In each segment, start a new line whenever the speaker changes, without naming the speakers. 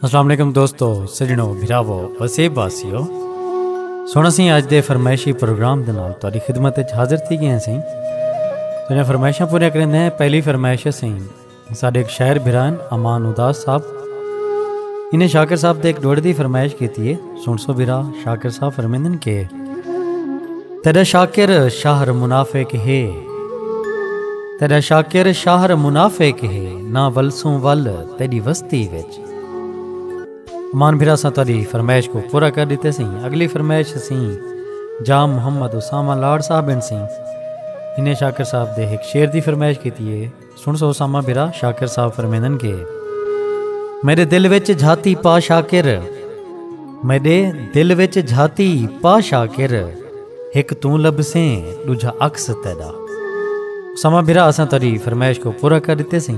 السلام علیکم دوستو سجنو بھراو وسیب واسیو سونا سی اج دے فرمائشی پروگرام دے نال تہاڈی خدمت وچ حاضر تھی گئے ہیں سی تیرے فرمائشاں پورے کرن ہیں پہلی فرمائش ہے سی ساڈے ایک شاعر بھران امان اداس صاحب انہیں شاکر صاحب دے ایک ڈوڑ دی فرمائش کیتی ہے سن سو برا شاکر صاحب فرمیندن کے تیرا شاکر شہر منافق ہے تیرا شاکر شہر منافق ہے نہ ولسوں ول تیری وستی وچ مان بھرا سا تاری فرمائش کو پورا کر دیتے سی اگلی فرمائش سی جام محمد اسامہ لاڑ صاحب ان سی انہیں شاکر صاحب دے ایک شیر دی فرمائش کیتی ہے سنڑ سو اسامہ بھرا شاکر صاحب فرمیندن کہ میڈے دل وچ جھاتی پا شاکر میڈے دل وچ جھاتی پا شاکر ہک توں لبھسیں ڈوجھا عکس تیڈا اسامہ بھرا اساں تیڈی فرمائش کو پورا کر ڈتے سیں۔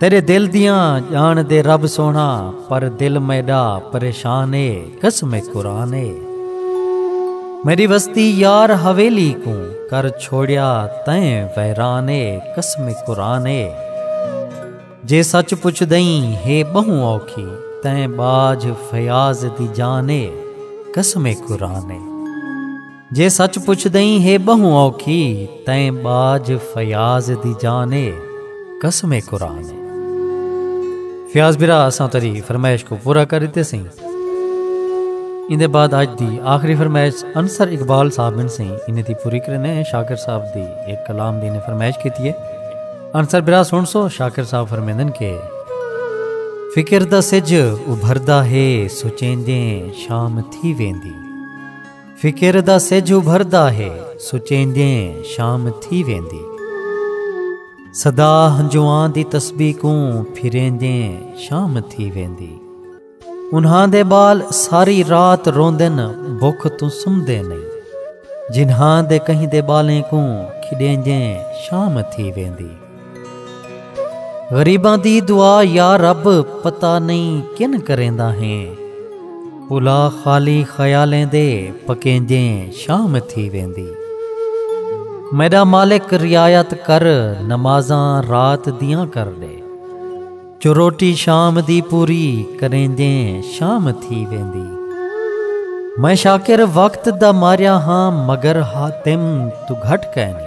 تیرے دل دیاں جان دے رب سونا پر دل میڈا پریشان اے قسم قرآن اے میری وستی یار حویلی کوں کر چھوڑیا تیں ویران اے قسم قرآن اے جے سچ پچھ دئیں ہے بہوں اوکھی تیں باج فیاض دی جان اے قسم قرآن اے جے سچ پچھدئیں ہے ٻہوں اوکھی تئیں ٻاجھ فیاض دی جان اے قسم قرآن اے۔ فیاض برا اساں تری فرمائش کو پورا کر ڈتے سئیں ایندے بعد اج دی آخری فرمائش انصر اقبال صاحب بن سئیں انہیں دی پوری کرنے شاکر صاحب دی ایک کلام دی انہیں فرمائش کیتی ہے انصر برا سن سو شاکر صاحب فرمیندن کے فکر دا سج ابھردا ہے سچیندیں شام تھی ویندی فکر دا سجھ ابھردا ہے سچیندیں شام تھی ویندی صدا ہنجواں دی تسبیح کوں پھریندیں شام تھی ویندی انہاں دے بال ساری رات روندن بکھ توں سمدے نہیں جنہاں دے کہیں دے بالیں کوں کھڈیندیں شام تھی ویندی غریباں دی دعا یا رب پتہ نئیں کن کریندا ہیں الا خالی خیالیں دے پکینجیں شام تھی ویندی میڈا مالک رعایت کر نمازاں رات دیاں کر ڈے جو روٹی شام دی پوری کرینجیں شام تھی ویندی میں شاکر وقت دا ماریا ہاں مگر ہاتم تو گھٹ کینی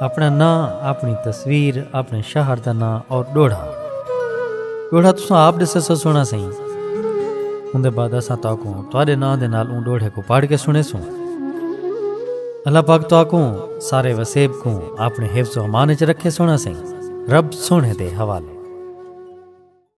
اپݨا ناں، اپݨی تصویر، اپݨے شہر دا ناں اور ݙوہڑا۔ ݙوہڑا تساں آپ ݙسیسو سوہݨا سئیں۔ اوندے بعد اساں تہاکوں تہاݙے ناں دے نال اوں ݙوہڑے کوں پڑھ کے سݨیسوں۔ اللہ پاک تہاکوں سارے وسیب کوں اپݨے حفظ و امان وچ رکھے سوہݨا سئیں۔ رب سوہݨے دے حوالے۔